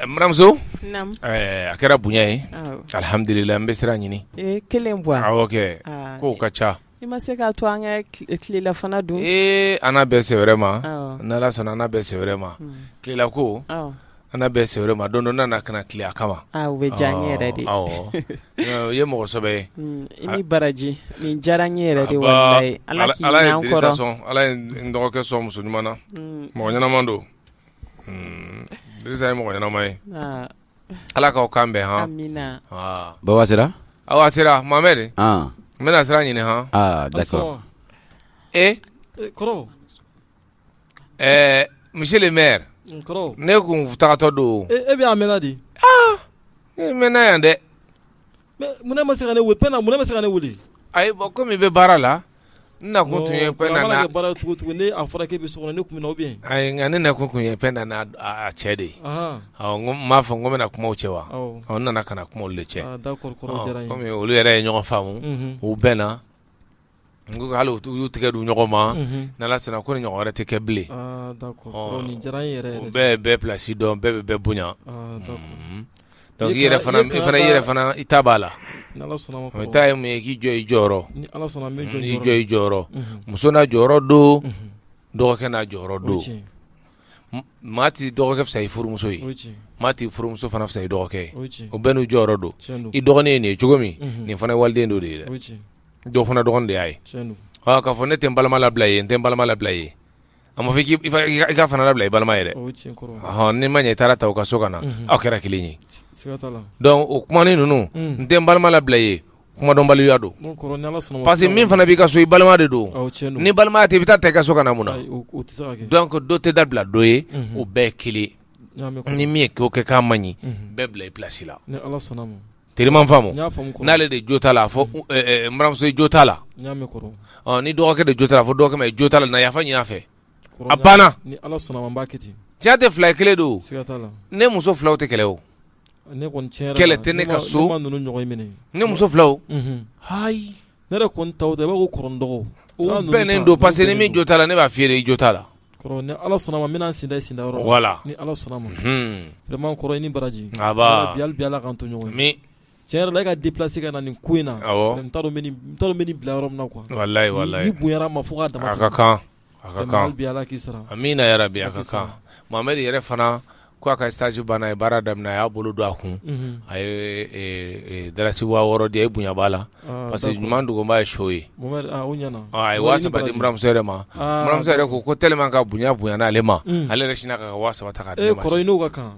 Baramuso a kɛra bonya ye alihamdulila an bɛ sira ɲini kelen bɔ kow ka ca i ma se k' to an tilelafana don ee an bɛ sɛ wɛrɛ ma n'ala sɔnna an bɛ sɛ wɛrɛ ma tilela ko an bɛ sɛ wɛrɛ ma don nana ka na tile a kama bɛ diya an yɛrɛ de o ye mɔgɔsɛbɛ ye i ni baraji nin diyara n yɛrɛ de ala ye n dɔgɔkɛ sɔn muso ɲuman na mɔgɔ ɲɛnama don Ye mɔgɔ ɲɛnama ye ala k'aw kan bɛn h baba sera aw sera mamɛ de n bɛna sira ɲini h da sɔrɔ e ɛɛ monsieur le maire ne tun taatɔ don e bɛ' mɛn di mɛnna yan dɛ Munna ma se ka ne wele mun bɛ se ka ne wuli a bɔ kɔmi i bɛ baara la n na tun ye baara cogo cogo ne a fɔra k' bɛ so ne tun bɛ yen nka ne na kun tun ye Pɛnda n'a cɛ de ye n m'a fɔ n ko bɛna kuma u cɛ wa n nana ka na kuma olu de cɛ olu yɛrɛ ye ɲɔgɔn faamu u bɛnna n ko hali u y'u tɛgɛ di ɲɔgɔn ma n' Ala sɔnna ko nin ɲɔgɔn wɛrɛ tɛ kɛ bilen u bɛɛ ye bɛɛ pilasi dɔn bɛɛ bɛ bɛɛ bonya donc i yɛrɛ fana i ta b'a la i ta ye mun ye i k'i jɔ i jɔyɔrɔ n'i jɔ i jɔyɔrɔ muso n'a jɔyɔrɔ don dɔgɔkɛ n'a jɔyɔrɔ don maa tɛ dɔgɔkɛ fisaya i furumuso ye maa tɛ furumuso fana fisaya i dɔgɔkɛ ye o bɛɛ n'u jɔyɔrɔ don i dɔgɔnin ye nin ye cogo min nin fana ye waliden dɔ de ye dɛ. dɔ fana dɔgɔnin de y'a ye k'a fɔ ne tɛ n balima labila i ye n tɛ balima labila ye a ma fɔ i ka fana labila i balima yɛrɛ hɔn ne ma ɲɛ i taara ta u ka so ka na aw kɛra kelen ye donc o kuma ninnu n tɛ n balima labila ye kumadɔnbaliya don parce que min fana b'i ka so i balima de don n'i balima tɛ i bɛ taa a ta i ka so ka na mun na donc dɔ tɛ dabila dɔ ye o bɛɛ kelen ni min ye ko kɛ k'a man ɲi bɛɛ bila i pilasi la teriman faamu n'ale de jo t'a la a fɔ baramuso i jo t'a la ni dɔgɔkɛ de jo t'a la fɔ dɔgɔkɛ ma jo t'a la na yafa ɲini a fɛ a banna tiɲɛ tɛ fila ye kelen don ne muso filaw tɛ kɛlɛ o kɛlɛ tɛ ne ka so ne muso filaw Ne yɛrɛ kɔni ta tɛ b'a ko kɔrɔ ni dɔgɔ u bɛnnen don parce que ni min jo t'a la ne b'a fɔ i ye i jo t'a la ni ala sɔnna a ma n bɛna n sen da i sen dayɔrɔ la ni ala sɔnna a ma vraiment kɔrɔ i ni baraji bi ala k'an to ɲɔgɔn min cɛ yɛrɛ e ka déplacer ka na nin ko in na n t'a dɔn n bɛna i bila yɔrɔ min na quoi nin bonyara n ma fo ka da kan A ka kan hali bi Ala k'i sara amiina yarabi a ka kan Mohamed yɛrɛ fana ko a ka stage bana a ye baara daminɛ a y'a bolo don a kun unhun a ye e e dalasi 6000 di a ye bonya b'a la aa parce que ɲuman dogobaa ye son ye Mohamed aa o ɲana ɔ a ye 3000 di n buranmuso yɛrɛ ma aa n buranmuso yɛrɛ ko ko tellement que a bonya bonyana ale ma unhun ale yɛrɛ sinna k'a ka 3000 ta k'a di ne ma ee kɔrɔ i n'o ka kan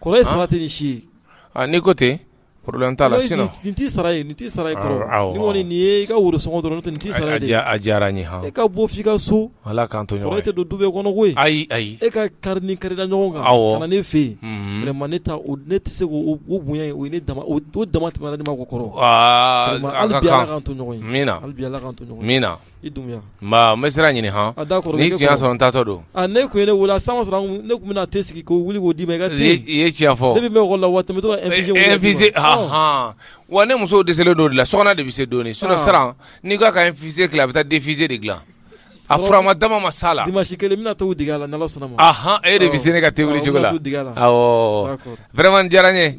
Kɔrɔ ye sara tɛ nin si ye n'i ko ten problème t'a la nin tɛ sara ye nin tɛ sara ye i ka woro sɔngɔ dɔrɔn nin tɛ sara ye a diyara n ye e ka bɔ f' i ka so ala k'an to ɲɔgɔn tɛ don du bɛɛ kɔnɔ koyi ayi ayi e ka kari ni kɛlɛla ɲɔgɔn kan ka na ne fɛ yen ma ne ne tɛ se u bonya ye u ne dama o don damatɛmɛna ne ma ko kɔrɔ to min na min na i Dunbuya, nba n bɛ sira ɲini han, a d'accord ni tun y'a sɔrɔ n taatɔ don, aa n'e tun ye ne wele a san o san ne tun bɛna thé sigi k'o wuli k'o d'i ma i ka thé, i ye tiɲɛ fɔ, depuis n bɛ école la wa n bɛ to ka infusion kɛ, infusion anhan, wa ne muso dɛsɛlen don o de la Sokona de bɛ se dɔɔnin sinon Saran n'i ko a ka infusion dilan a bɛ taa defusion de dilan a furama dama ma s'a la, dimanche kelen n bɛna thé dege a la n'Ala sɔnna ma, anhan, e de bɛ se ne ka thé wuli cogo la, awɔ, n bɛna thé dege a la, awɔ, d'accord Vraiment diyara n ye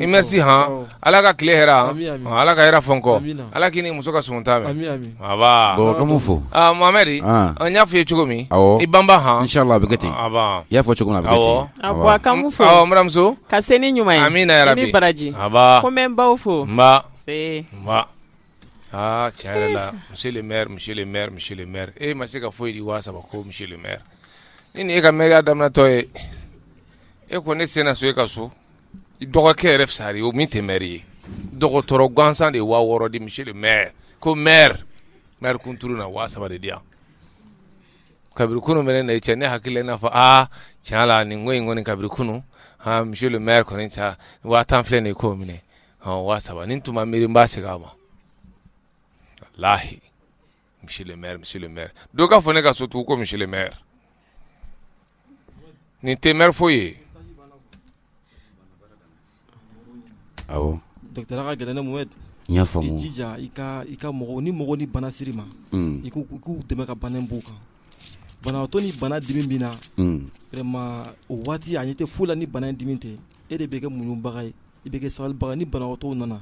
merci hɔn ala ka tile hɛrɛ ala ka hɛrɛ fɔ n kɔ ala k'i ni muso ka sun ta fo mamari n y'a fɔ i ye cogo min i ban h bɛ kɛ ten i y'a fɔ cogo bɛmuso ka se ni ɲuman min bɛ baraji ko n baw fo aa cɛ yɛrɛ la maire maire maire e ma se ka foyi di waa saba kɔ maire ni e ka mairie daminɛtɔ ye e ko ne sen so e ka so dɔgɔkɛ yɛrɛ fisara i ye o min tɛ maire ye dɔgɔtɔrɔ gansan de ye waa wɔɔrɔ di monsieur le maire ko maire mairie kuntu na waa saba de di yan kabiri kunun bɛ ne cɛ ne hakili n'a fɔ aa tiɲɛ la nin ko in kɔni kabiri kunun monsieur maire kɔni ca waa tan filɛ de ko minɛ waa saba n tun miiri n b'a segin a ma walahi monsieur maire monsieur maire dɔ ka fɔ ne ka so tugun ko monsieur le maire Nin tɛ maire foyi ye ni mɔgɔ ni bana siri ma i k'u dɛmɛ ka bana bɔ u kan banabaatɔ ni bana dimi min na o waati a tɛ foyi la ni bana dimi tɛ e de bɛ kɛ muɲubaga ye i bɛ kɛ sabalibaga ye ni banabaatɔw nana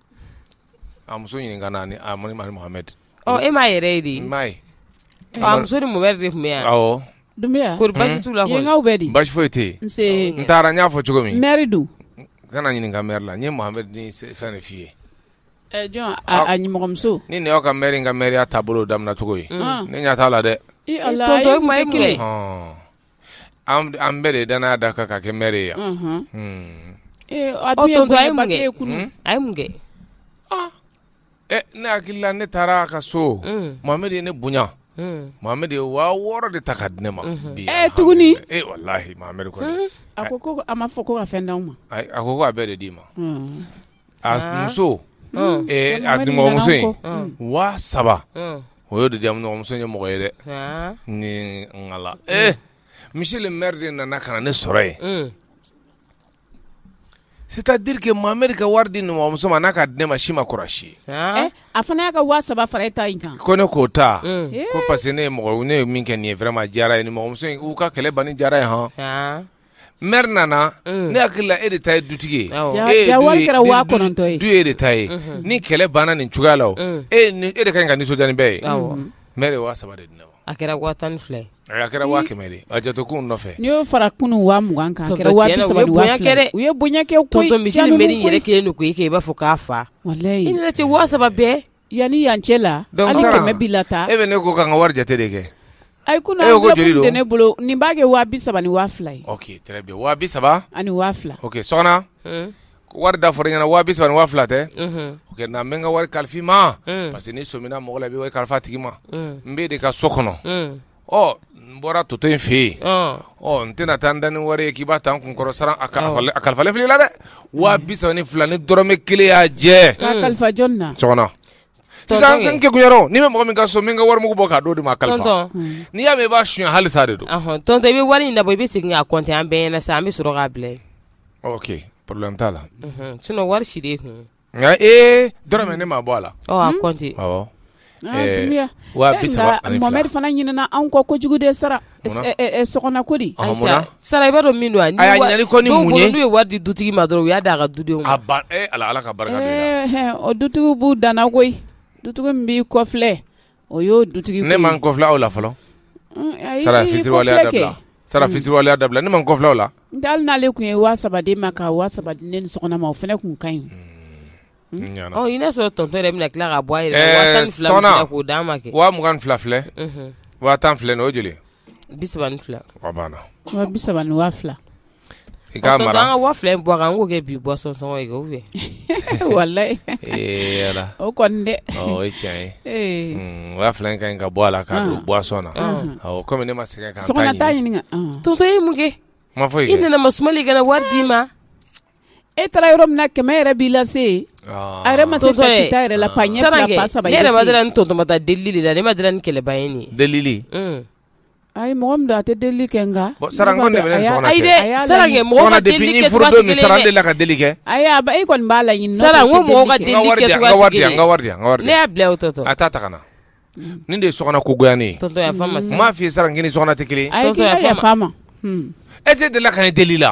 A muso ɲininka na ni a mari Mohamed ten e m'a yɛrɛ ye de m'a ye muso ni mɔden tun bɛ yan ko basi t'u la bɛ di basi foyi tɛ yen n taara n y'a fɔ cogo min maire don kana ɲininka ka mairie la n ye Mohamed fɛn f'i ye nimɔgɔmuso ni y'aw ka maire ka maireya taabolo bolo daminɛcogo ye ne ɲɛ t'a la dɛ an bɛɛ de dan n'a da kan ka kɛ mɛre yan a ne hakili la ne taara ka so Mohamed ye ne bonya Mohamed ye waa wɔɔrɔ de ta ka di ne ma bi tuguni wala a ko a ma fɔ ko ka fɛn d'i ma a ko ko a bɛɛ de d'i ma a muso a dunmuso in waa saba o y ye de diyamuso ye mɔgɔ ye dɛ ni ee misi ninri de nana ka na ne sɔrɔ yen c'est-à-dire que mamari ka wari di ninmuso ma n'a ka di ne ma si ma kɔrɔsi ye a fana y'a ka waa saba fara e ta in kan ko ne k'o ta ko parce que ne ye mɔgɔ ne ye min kɛ nin ye fɛrɛɛrɛ ma diyara ye nimɔgɔmuso in k'u ka kɛlɛ ban ni diyara ye hɔn mɛri nana ne hakili la e de ta ye dutigi ye du ye e de ta ye ni kɛlɛ banna nin cogoya la e e de ka ɲi ka nisɔndiya ni bɛɛ ye mɛri waa saba de a kɛra waa tan ni fila a kɛra waa kɛmɛ a jato ko nɔfɛ n'i y'o fara kunun waa mugan kan kɛra u ye bonyakɛ mi yɛrɛ kelen don ko e kɛ i b'a fɔ k'a fa i tɛ waa saba bɛɛ Yan ni yan cɛ la hali kɛmɛ b'i lataa e bɛ ne kɔ ka n ka wari jate de kɛ a ko joli de bɛ ne bolo nin b'a kɛ waa bi saba ni waa fila ye waa bi saba ani waa fila o sɔgɔna wari da fɔra i ɲɛna waa bi saba ani waa fila tɛ o la n bɛ n ka wari kalifa i ma parce que n'i sɔmina mɔgɔ la i bɛ wari kalifa a tigi ma n b'e de ka so kɔnɔ ɔ n bɔra tɔntɔn fɛ yen ɔ n tɛna taa n da ni wari ye k'i b'a ta n kun kɔrɔ sara a kalifalen filɛ i la dɛ waa bi saba ni fila ni dɔrɔmɛ kelen y'a jɛ k'a kalifa jɔni na sɔgɔna sisan n kegunyara n'i bɛ mɔgɔ min ka so i b'i ka warimugu bɔ k'a d'o de ma a kalifa tɔntɔn n'i y'a mɛn i b'a suɲɛ hali sa de don ahɔn, tɔntɔn i bɛ wari in labɔ i bɛ segin k'a kɔnte an bɛɛ ɲɛna sa an bɛ sɔrɔ k'a bila yen ok problème t'a la unhun, sinon wari si de ye kun ye nka ee dɔrɔmɛ ne m'a bɔ a la ɔ a kɔnte awɔ Ah, Eh, Dunbiya. waa Eh, bi saba nka ani fila. Mohamed fana ɲinɛna anw kɔ kojugu dɛ sara Munna? Eh, eh, eh, sɔgɔna ko di Ɔhɔ, munna? sara i b'a dɔn min don a ni A y'a wa- ɲinali kɔ ni dɔw mun bolo ye? n'u ye wari di dutigi ma dɔrɔn u y'a d'a ka dudenw ma a ban ee ala ala ka barika don i la. Eh, eh, o dutigiw b'u danna koyi dutigi min b'i kɔfilɛ O y'o dutigi ne ma n kɔfilɛ aw la fɔlɔ sara fisiriwaleya sara fisiriwaleya dabila ne ma n kɔfilɛ la dalen n'ale tun ye waa saba d'i ma ka waa saba di nin sɔgɔna ma o fana tun ka ɲi i y'a sɔrɔ tɔntɔn yɛrɛ bɛna tila ka bɔ a yɛrɛ k'o d'a ma kɛ waa mugan fila filɛ waa tan filɛ o joli bi saba ni fila banna bi saba ni waa fila I ka waa fila in bɔ a kan k'o kɛ buwasɔn sɔngɔ ye o kɔni dɛ o ye tiɲɛ ye waa fila in ka kan ka bɔ a la ka don buwasɔn na kɔmi ne ma se ka so ɲini tɔntɔn ye mun kɛ ma fɔ i nana ma sumali kɛ wari d'i ma e taara yɔrɔ min na kɛmɛ yɛrɛ b'i lase a yɛrɛ ma se yɛrɛ la saba ne yɛrɛ ma tɔntɔn ma taa deli de la ne ma ni kɛlɛba ye nin deli A ye mɔgɔ min don a tɛ deli kɛ nka sara de de la ka deli kɛ a e kɔni b'a la na ni de ye sokona ko goya ne m'a f'i ye sara n k'e ni sokona tɛ kelen ye tɛ deli ka ne deli la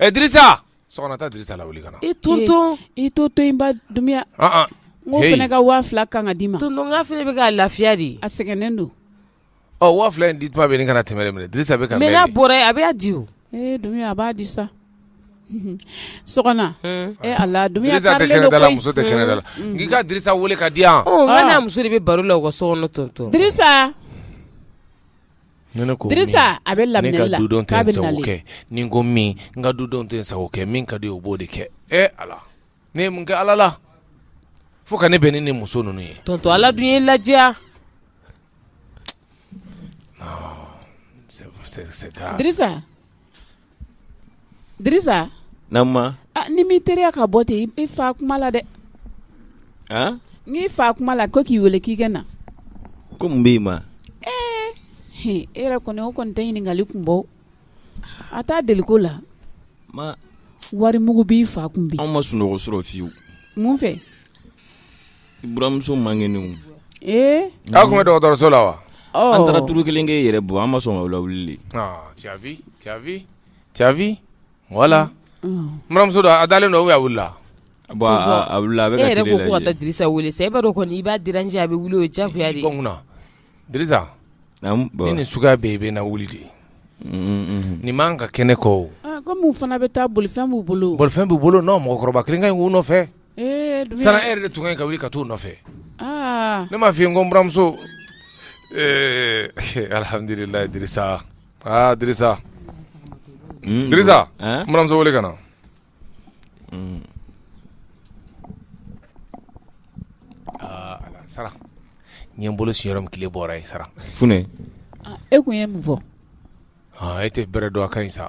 Ɛ dirisa lawuli ka na i to to i to to dunya ne ka waa fila kan ka d'i ma fana bɛ ka lafiya de a sɛgɛnnen don ɔ waa fila in di tuma bɛ nin kana tɛmɛ minɛ dirisa bɛ ka mɛ n'a bɔra a bɛ' di o a b'a di sa so a la muso tɛ kɛnɛ la k'i ka dirisa weele ka di yan n'a muso de bɛ baro la o ka so kɔnɔ Ni ne ko min, Dirisa a bɛ lamɛnni la, ne ka dudenw tɛ n sago kɛ, ni n ko min n ka dudenw tɛ n sago kɛ, min ka di u ye u b'o de kɛ, e Ala ne ye mun kɛ Ala la fo ka ne bɛn ni nin muso ninnu ye, tonton Ala dun y'i ladiya, non c'est grave, Dirisa n'i m'i teliya ka bɔ ten i fa kuma la dɛ n fa kuma la ko k'i weele k'i ka na ko mun b'i ma e yɛrɛ kɔni o kɔni tɛ ɲininkali kun bɔ a t' deli ko la wari mugu b'i fa kun bi anw ma sunɔgɔ sɔrɔ fiyewu mun fɛ Baramuso man kɛnɛ k'a tun bɛ dɔgɔtɔrɔso la wa an taara tuuru kelen kɛ yɛrɛ bɔ an ma sɔn wula wuli wala baramuso a dalen dɔw bɛ wili dirisa weele sa i b'a kɔni i b'a di cɛ a bɛ wuli o ja ni suguya bɛ i bɛ na wuli de ye nin ma ka kɛnɛ kɔ kɔmi fana bɛ taa bolifɛn b'u bolo bolifɛn b'u bolo mɔgɔkɔrɔba kelen in' nɔfɛ sara e de tun ka kan ka wuli ka t' u nɔfɛ ne m'a f'i ye n ko n baramuso alihamdulilahi dirisa baramuso wele ka na sara n ye n bolo sin min tile bɔra yen sara e tun ye mun fɔ e tɛ bɛrɛ dɔn a ka ɲi sa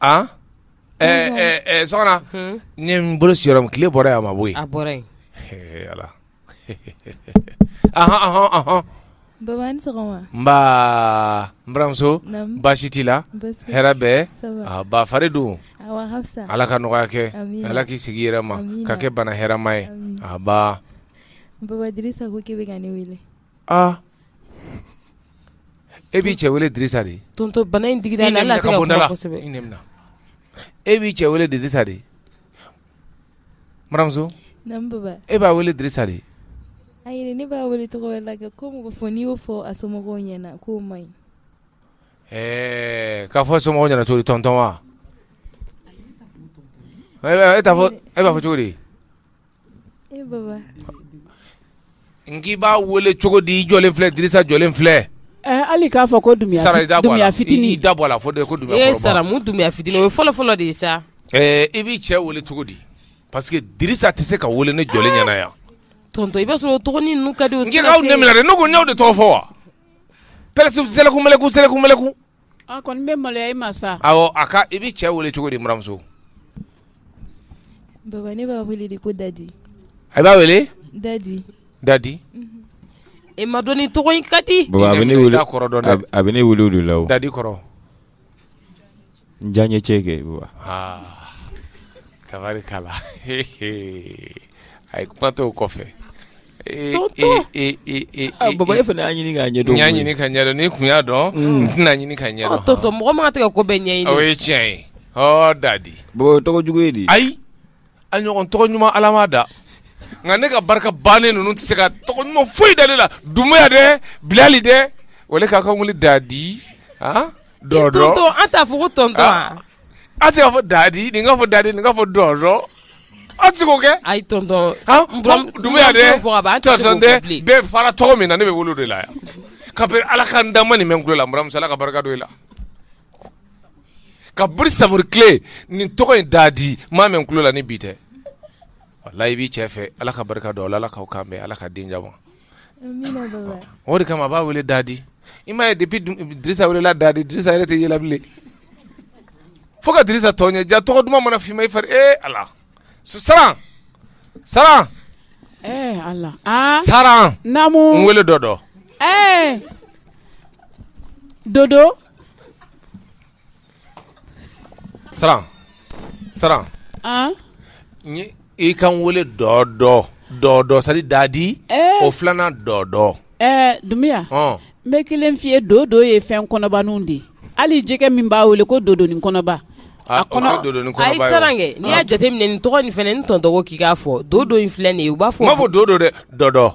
Aa ɛɛ sokona n ye n bolo sin yɔrɔ min tile bɔra yen a ma bɔ yen ala ahɔn n baramuso baasi t'i la hɛrɛ bɛ ba fari don ala ka nɔgɔya kɛ ala k'i segin i yɛrɛ ma k'a kɛ bana hɛrɛma ye a aa e b'i cɛ wele Dirisa de tonton bana in digira ne la kosɛbɛ i nenina e b'i cɛ wele Dirisa de buranmuso naamu papa e b'a wele Dirisa de ayi ne b'a wele tɔgɔ wɛrɛ la kɛ ko mɔgɔ fɔ n'i y'o fɔ a somɔgɔw ɲɛna k'o man ɲi ɛɛ k'a fɔ somɔgɔw ɲɛna cogo di tonton wa e b'a fɔ cogo di n k'i b'a weele cogo di i jɔlen filɛ Dirisa jɔlen filɛ hali k'a fɔ ko dun sara da fitinin da bɔ la fɔ ko saramu dunya fitinin o ye fɔlɔ fɔlɔ de ye sa i b'i cɛ weele cogo di parce que Dirisa tɛ se ka weele ne jɔlen ɲɛna yan tonton i b'a sɔrɔ ka di n' de tɔgɔ fɔ wa pɛkun mɛnɛlɛkun A kɔni bɛ maloya i ma sa awɔ a ka i b'i cɛ wele cogo di buranmuso Baba ne b'a wele de ko Dadi a b'a wele Dadi Dadi i m'a dɔn ni tɔgɔ in ka di Baba a bɛ ne wele i t'a kɔrɔ dɔn dɛ a bɛ ne wele o de la o Dadi kɔrɔ n diyaɲecɛ kɛ Baba aa tabarikala a ye kuma to o kɔfɛ e, Tonton! e, e, e, e, Ah, baba e fana y'a ɲini k'a ɲɛdɔn n y'a koyi. ɲini ka ɲɛdɔn ni n tun y'a dɔn n tɛna ɲini ka Ɔ, ɲɛdɔn tonton mɔgɔ man kan tɛ ka ko bɛɛ o ɲɛɲini ye tiɲɛ ye ɔ dadi baba o ye tɔgɔ jugu ye de ayi a ɲɔgɔn tɔgɔ ɲuman ala m'a da nka ne ka barika bannen ninnu tɛ se ka tɔgɔ ɲuman foyi da ne la dumuya dɛ bilali dɛ wala k'a k'a wele dadi han dodo tonton an t'a fɔ ko tonton Ah. wa A se ka fɔ dadi nin fɔ dadi nin fɔ dɔn a tɛ kɛ ayi bɛɛ fara tɔgɔ min na ne b'a wele o de la yan ka ala ka da ma nin kulomusola ka barika la ka Samori tile nin tɔgɔ in da di maa min kulola ni bi tɛ walayi i b'i cɛ fɛ ala ka barika don ala ala ka kan ala ka den ma O de kama a b'a weele dadi i m'a ye depuis Dirisa weelela dadi Dirisa yɛrɛ tɛ yɛlɛ bila fo ka Dirisa tɔn ye ja tɔgɔ duman mana fɔ i ma i fari e ala su sara sara sara weele dodo dodo Saran Saran i k'a weele dodo dodo sari dadi o filanan dodo dunbiya n bɛ kelen f'i ye dodo ye fɛn kɔnɔbaw de ye hali jɛgɛ min b'a wele ko dodo ni kɔnɔba a kɔnɔkɛ n'i y'a jateminɛ nin tɔgɔ nin fana n tɔn dɔgɔ k'i'a fɔ dodo in filɛ nin ye u b'a fɔ ma fɔ dodo dɛ dodo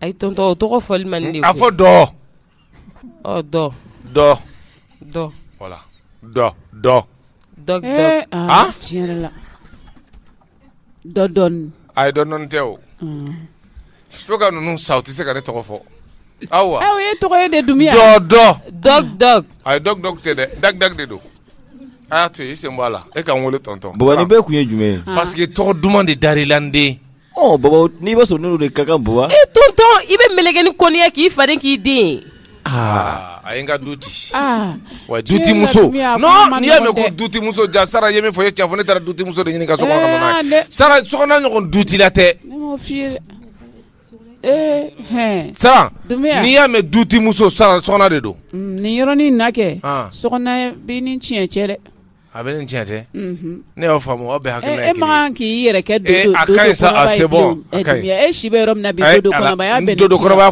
ayi tɔntɔn o tɔgɔ fɔli man di a fɔ dɔ ɔ dɔ dɔ dɔ voilà dɔ dɔ dɔ dɔ aa tiɲɛ yɛrɛ la dɔ dɔɔni ayi dɔ dɔɔni tɛ o fo ka ninnu sa u tɛ se ka ne tɔgɔ fɔ awa aw ye tɔgɔ ye de dumiya dɔ dɔ dɔ dɔ ayi dɔ dɔ tɛ dɛ dag dag de don a y'a to yen i sen bɔ a la e ka n wele tɔntɔn bɔgɔni bɛɛ tun ye jumɛn ye parce que tɔgɔ duman de dar'i la n den n'i bɛ sɔn de ka bu e tɔntɔn i bɛ mun kɛ ni kɔniya k'i fa k'i den aa a n ka du ci wa dutimuso n'i y'a mɛn ko dutimuso disa ye min fɔ ye cɛ fɔ ne taara dutimuso de ɲini ka so sara so ɲɔgɔn du ci la tɛ sara n'i y'a mɛn dutimuso sara so de don niɔrɔnin na kɛ so bɛ ni tiɲɛ cɛ dɛ A bɛ nin cɛn tɛ ne y'o faamu bɛ ha e ma k'i yɛrɛ e si yɔrɔ min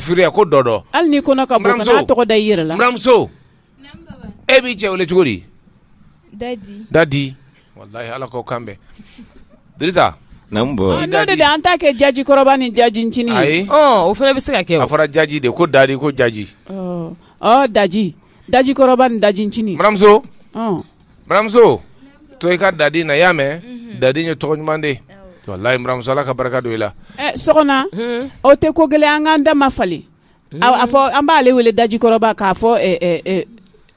furu ko dɔ dɔn hali tɔgɔ da i yɛrɛ la muso e b'i cɛ wele cogo di dadi ala ko kan bɛ an ta kɛ dajikɔrɔba ni dajincinin o fana bɛ se ka kɛ a fɔra daji de ko da ko jaji daji dajikɔrɔba ni dajincinin baramuso ɔn baramuso to i ka dadi na i y'a mɛn dadi ye tɔgɔ ɲuman de ye walayi baramuso ala ka barika don i la ɛ sɔgɔna o tɛ ko gɛlɛn an k'an dama falen a a fɔ an b'ale wele dajikɔrɔba k'a fɔ ɛ, ɛ, ɛ,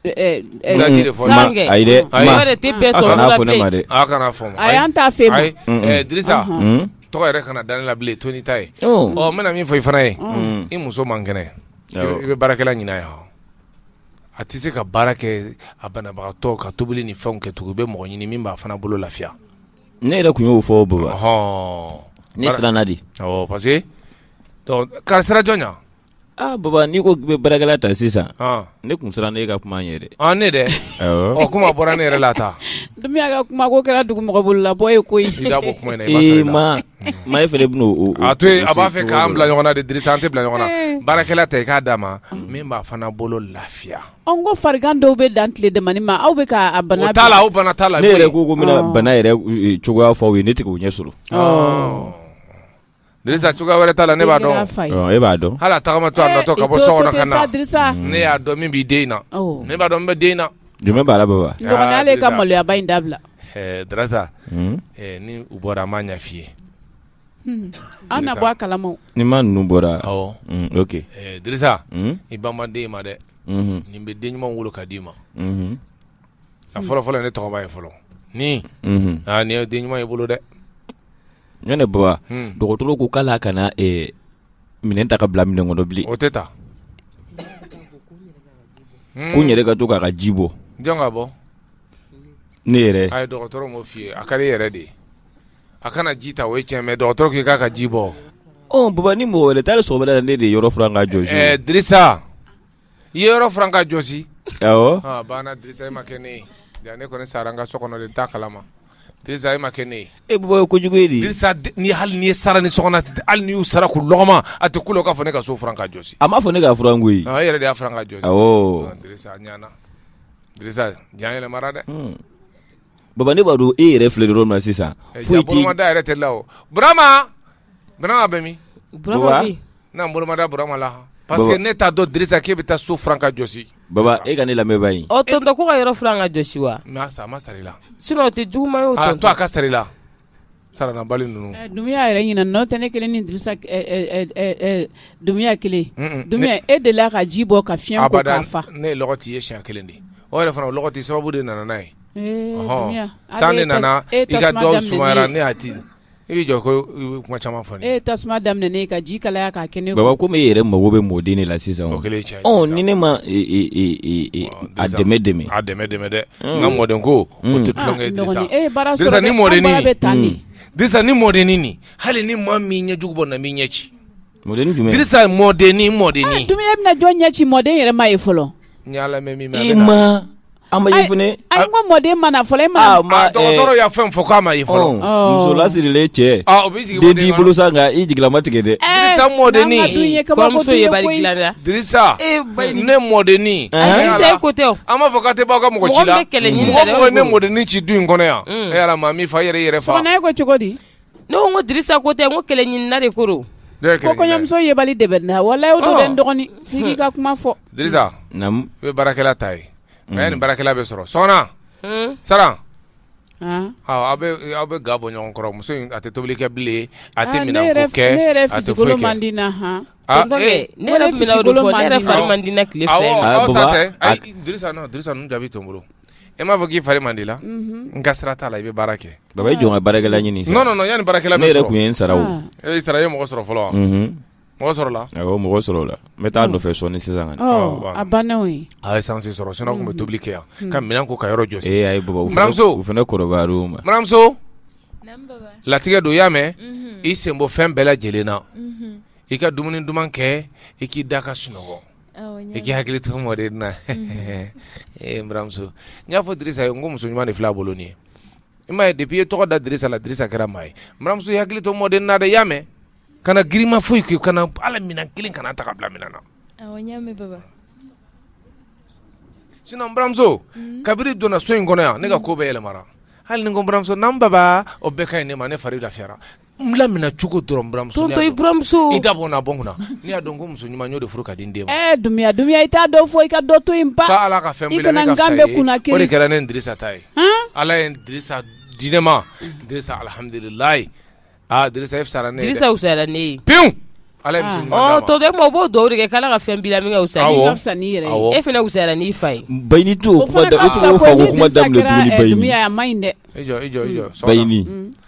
ɛ, ɛ, Daji de fɔ. Ma- Sange. ayi dɛ Ayi. ma O de tɛ bɛɛ a tɔgɔ kana la fɔ ne bilen. ma dɛ a kana fɔ ma ayi an t'a fɛ ma ayi eh, dirisa Mm. tɔgɔ yɛrɛ kana da ne la bilen to nin ta ye Oh. ɔ n bɛna min fɔ i fana ye i muso man kɛnɛ i bɛ- Awɔ. i bɛ baarakɛla ɲin'a ye hɔ A tɛ se ka baara kɛ a banabagatɔ ka tobili ni fɛn kɛ tugun bɛ mɔgɔ ɲini min b'a fana bolo lafiya ne yɛrɛ tun y'o fɔ bolo hɔn ne siran di parce que kari sira jɔn aa baba n'i ko k'i bɛ baarakɛla ta sisan ne tun sirannen e ka kuma yɛrɛ ɲɛ dɛ o kuma bɔra ne yɛrɛ la ta Dumbuya ka kuma ko kɛra dugu mɔgɔ bolo la bɔ ye koyi i da bɔ kuma in na i ma sara i la ee maa maa e fana ben'o o o a to yen a b'a fɛ cogo k'an dɔ bila la. ɲɔgɔn na de Dirisa an tɛ bila ɲɔgɔn na Ee. baarakɛla ta i k'a d'a ma min b'a fana bolo lafiya ɔ n ko farigan dɔw bɛ dan tile damanin ma aw bɛ ka a bana o t'a la o bana t'a la ne yɛrɛ ko ko n bɛna Ɔɔ. bana yɛrɛ u e cogoya fɔ aw ye ne ti k'o ɲɛ sɔrɔ ɔɔ Disa cogoya wɛrɛ t'a la ne b'a dɔn e b'a dɔn hali a tagamatɔ ka bɔ so ka na ne y'a dɔn min b'i den na ne b'a dɔn min b'i den na jama b'a la baba ka maloyaba in dabila disa ni u bɔra a ma ɲɛf'i ye an na bɔ a kalama ni ma ninnu bɔra disa i ban den ma dɛ nin bɛ den ɲuman wolo ka d'i ma a fɔlɔfɔlɔ ne tɔgɔma ye fɔlɔ ni aa nin ye den ɲuman y'i bolo dɛ Ɲɔo tɛ baba dɔgɔtɔrɔ ko k'ale kana minɛn ta ka bila minɛn kɔnɔ bilen o tɛ taa ko ne de ka to k'a ka ji bɔ ka bɔ ne yɛrɛ a ye dɔgɔtɔrɔ f'i ye a ka ne yɛrɛ de ye a kana ji ta o ye cɛ dɔgɔtɔrɔ k'i k'a ka ji bɔ baba ni mɔgɔ wɛrɛ taara so wɛrɛ ne de yɔrɔ furan ka jɔsi I ye yɔrɔ furan ka jɔsi, awɔ, ɔ a banna Dirisa e ma kɛnɛ ye yan ne kɔni sara n ka so kɔnɔ dɛ n t'a kalama Dirisa e ma kɛnɛ ye, e bɔ ye kojugu ye di, Dirisa ni hali n'i ye sara ni sokɔnɔ hali n'i y'u sara k'u lɔgɔma a tɛ k'u la u k'a fɔ ne ka so furan ka jɔsi, a m'a fɔ ne k'a furan koyi, ɔ e yɛrɛ de y'a furan ka jɔsi, awɔ, Dirisa a ɲɛna Dirisa ja yɛlɛmara dɛ, un, Baba ne b'a dɔn e yɛrɛ filɛ yɔrɔ min na sisan, foyi t'i, ja bolomada yɛrɛ t'e la o, Burama Burama bɛ min? Burama bɛ yen. N na n bolomada Burama la han. Parce que ne t'a dɔn Dirisa k'e bɛ taa so furan ka jɔsi. Baba e ka ne lamɛn banni. Ɔ tonton ko ka yɔrɔ furan ka jɔsi wa? N y'a san a ma sara i la. Sinon o tɛ juguman ye o tonton. A to a ka sara i la saranabali ninnu. Ɛ Dunbiya yɛrɛ ɲinɛna o tɛ ne kelen ni Dirisa ɛ ɛ ɛ Dunbiya kelen. Un un. Dunbiya e deli la ka ji bɔ ka fiɲɛ ko k'a fa. Abada ne ye lɔgɔ t'i ye siɲɛ kelen de o yɛrɛ fana o lɔgɔti sababu de nana n'a ye. Ee Dunbiya a bɛ e tasuma daminɛ ne ye. Ɔhɔn san de nana i ka dɔgɔ sumayara ne y'a di. I bɛ jɔ ko kuma caman fɔ e tasuma daminɛ ka ji kalaya ka kɛ ne baba ko e yɛrɛ mago bɛ mɔden de la sisan ni ne ma dɛmɛ dɛmɛ dɛ nka mɔden ko ni mɔdennin hali ni ma min ɲɛ jugu bɔ na min ɲɛ ci mɔden ni mɔden ah, bɛna jɔn ɲɛ ci mɔden yɛrɛ ma ye fɔlɔ an ma ye fana a ko mɔden ma na fɔlɔ e ma dɔgɔtɔrɔ y'a fɛn fɔ k'a ma ye fɔlɔ muso lasirilen cɛ den t'i bolo sa nka i jigilama tigɛ dɛ dirisa mɔdenni kɔɲɔmuso ye bari dilan dɛ dirisa ne mɔdenni dirisa ko tɛ o an b'a fɔ k'a tɛ bɔ aw ka mɔgɔ ci la mɔgɔ mɔgɔ ne mɔdenni ci du in kɔnɔ yan e yɛrɛ maa min fa yɛrɛ yɛrɛ faso kɔnɔ e ko cogo di Ne ko Dirisa ko tɛ ko kɛlɛɲini nare ko kɔɲɔmuso ye bali de na wa dɔgɔnin fi ka kuma fɔ i baarakɛla ta ye mɛ ni baarakɛla bɛ sɔrɔ sa sara aw aw bɛ ga bɔ ɲɔgɔn kɔrɔ muso a tɛ tobili kɛ bilen a tɛ minɛn ko tile fɛ jaabi to bolo E m'a fɔ k'i fari mada i la n ka sira t'a la i bɛ baara kɛ baba i jɔn ka baara ɲini yan baara ne yɛrɛ tun ye sara e sara ye mɔgɔ sɔrɔ fɔlɔ wa mɔgɔ sɔrɔla mɔgɔ sɔrɔla n bɛ taa nɔfɛ sɔɔni sisan ye san sɔrɔ sina tun bɛ tobili kɛ yan ka minɛn ko ka yɔrɔ jɔsi e muso fana kɔɲɔmuso latigɛ don y'a mɛn i sen bɔ fɛn bɛɛ lajɛlen na i ka dumuni duman kɛ i k'i da ka sunɔgɔ I k'i hakili to mɔden na eemuso n y'a fɔ Dirisa ye ko muso ɲuman ni fila bolo nin ye i ma depi i ye tɔgɔ da Dirisa la Dirisa kɛra maa ye muso i hakili to mɔden na dɛ y'a mɛn ka na girinma foyi k'i kana ala minɛn kelen kana ta ka bila min na sinon buramuso kabini donna so in kɔnɔ yan ne ka ko bɛɛ yɛlɛmara hali nimuso n'an baba o bɛɛ ka ɲi ne ma ne fari lafiyara n lamina cogo dɔrɔn buramuso i buramuso i da bɔ na bɔ kunna n'i y'a dɔn ko muso ɲuman y'o de furu ka di n den ma ɛɛ eh, dumbia dumbia i t'a dɔn fo i ka dɔ to in ba k'a ala ka fɛn bɛɛ la ne ka fisa ye o de kɛra ne Dirisa ta ye ala ye Dirisa di ne ma Dirisa alihamudulilayi aa ah, Dirisa e fisara ne ye dɛ Dirisa fisara ne ye pewu ala ye muso ɲuman d'a ma ɔ tɔ tɛ o b'o dugawu de kɛ k'ala ka fɛn b'i la min ka fisa n'i ka fisa n'i yɛrɛ ye e fana fisara n'i fa ye bayini t'o kuma da o kuma daminɛ tuguni bayini a ma ɲi dɛ i jɔ i jɔ i jɔ bayini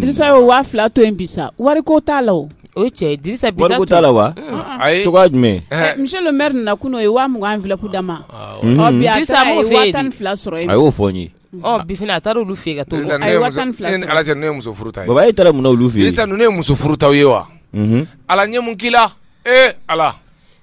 Dirisa ye waa fila to in bi sa wari ko t'a la o cɛ t'a la wa jumɛn misi na kun ye waa an fila da ma tan fila sɔrɔ a y'o fɔ n ye a taara olu fɛ ka ala ne muso furu e taara olu fɛ ye muso furu ye wa ala ɲɛ k'la ee ala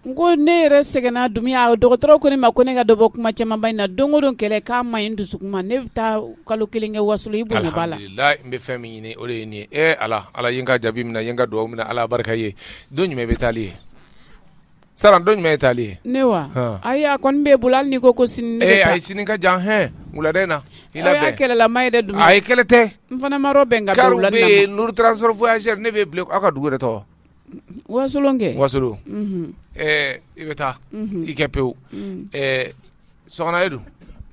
n ko ne yɛrɛ sɛgɛnna dumbia o dɔgɔtɔrɔ ko ne ma ko ne ka dɔ bɔ kuma camanba in na don o don kɛlɛ k'a ma ɲi dusu ma ne bɛ taa kalo kelen kɛ wasolo la n bɛ fɛn min ɲini o de ye nin ye ala ala ye n ka jaabi mina n ka dugawu minɛ ala barika ye don jumɛn bɛ taali ye sara don jumɛn ye taali ye ne wa ayi a kɔni bɛ bolo hali n'i ko ko sini ee ayi sini ka jan hɛn wulada in na i labɛn kɛlɛlama yɛrɛ dun a ye kɛlɛ tɛ n fana ma bɛn ka kari bɛ yen n'u taara sɔrɔ foyazɛri ne bɛ bila aw ka dugu yɛrɛ tɔgɔ wakɛ wasolo i bɛ taa i kɛ pewu sara e dun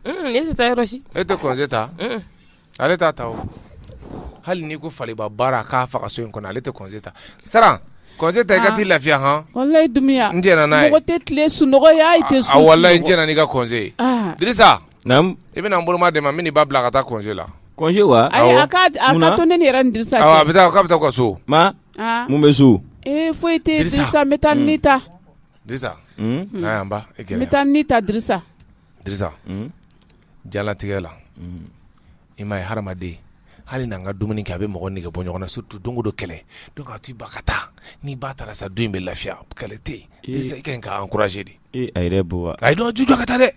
e tɛ taa yɔrɔ si e tɛ congé ta ale t'a ta hali n'i ko faba baara k'a faga so in kɔnɔ ale tɛ congé ta sara congé ta i ka t'i lafiya hɔn walayi dumbia n n'a tɛ tile sunɔgɔ tɛ walayi j' ka congé Dirisa Naamu, i bɛna n bolomadɛmɛ n bɛ n'i ba bila ka taa congé la, congé wa? Ayi a ka to ne ni yɛrɛ ni Dirisa cɛ, awɔ a bɛ taa k'a bɛ taa u ka so, ma, an, mun bɛ so? Ee foyi tɛ yen Dirisa n bɛ taa ni ta, Dirisa, un, na yan n ba, i kɛlɛ, n bɛ taa ni ta Dirisa, Dirisa, un, diɲɛlatigɛ la, un, i m'a ye hadamaden hali n'an ka dumuni kɛ a bɛ mɔgɔ nege bɔ ɲɔgɔn na surtout don o don kɛlɛ donc a to i ba ka taa n'i ba taara sa du in bɛ lafiya kɛlɛ tɛ yen Dirisa i ka ɲi k'a encourager dɛ, ee a yɛrɛ ye bɔ wa, ayi donc a to a ka taa dɛ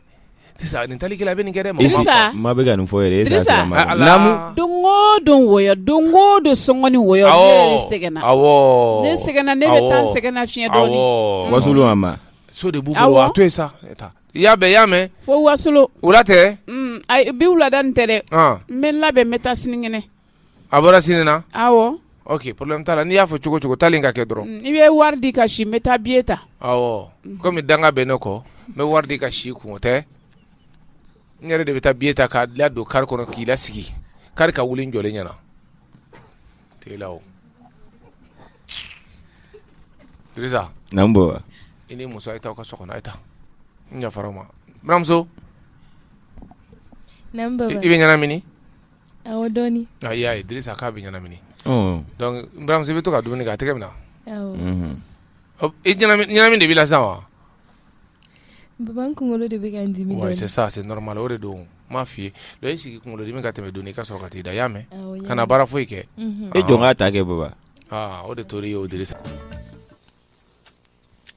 Sisan nin talikɛ a bɛ nin kɛ dɛ, Dirisa, maa bɛ ka nin fɔ yɛrɛ, e y'a sɔrɔ a ma kɛ, naamu, Dirisa, don o don wɔyɔ don o don sɔngɔ ni wɔyɔ, awɔ, ne yɛrɛ sɛgɛnna, awɔ, ne sɛgɛnna, ne bɛ taa n sɛgɛn lafiɲɛ dɔɔnin, awɔ, wasolo mama, so de b'u bolo, awɔ, a to yen sa, i y'a mɛn, i y'a mɛn, fo wasolo, wula tɛ, un, ayi bi wulada in tɛ dɛ, an, n bɛ n labɛn n bɛ taa sinikɛnɛ a bɔra sini na oke problème t'a la n'i y'a fɔ cogo cogo taa ka kɛ dɔrɔn i bɛ wari di ka si bɛ taa biye ta aw kɔmi danga bɛ ne kɔ n bɛ wari di ka si kun o tɛ n yɛrɛ de bɛ taa biye ta k'a dilan don kari kɔnɔ k'i lasigi kari ka wuli jɔlen ɲɛna te la bɔ i ni muso ye taa ka so kɔnɔ ta n ma buranmuso i bɛ ɲɛnamini y'a ye dirisa k'a bɛ ɲɛnamini buranmuso bɛ to ka dumuni a tɛgɛ minɛ ɲɛnamini de b'i la sa wa kunkolo de bɛ normal o de don ma fɔ i ye sigi kunkolo dimi ka tɛmɛ dɔɔnin i ka sɔrɔ ka taa i da y'a mɛn kana baara foyi kɛ e jɔn k'a ta kɛ baba o de to y'o di sa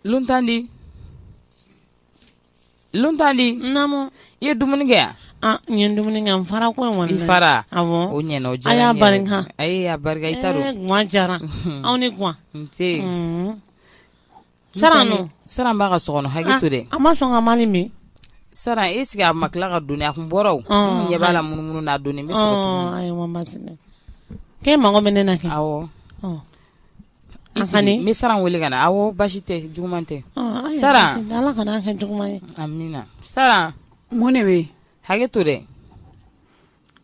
luntandi Luntandi i ye dumuni kɛ yan ne ye dumuni kɛ n fara ko fara o o diyara anw ni sara b'a ka so kɔnɔ hakɛ to dɛ an ma sɔn ka man min sara e sigi a ma tila ka dun a tun bɔra ɲɛ b'a la munumunu n'a dɔn k'e mago bɛ ne na kɛ Ni sara weele ka na a basi tɛ juguman tɛ sara sara mun de bɛ hakɛ to dɛ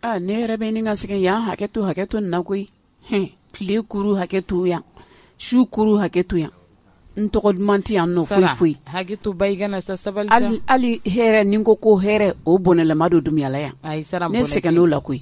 aa ne yɛrɛ bɛ ni ka sɛgɛn yan hakɛ to hakɛ to na koyi h tile kuru hakɛ to yan su kuru hakɛ to yan n tɔgɔ duman tɛ yan foyi foyi hakɛ to ba i kana sa sabali hali hɛrɛ nin ko ko hɛrɛ o bɔnɛla don du in na yan ne sɛgɛnna o la koyi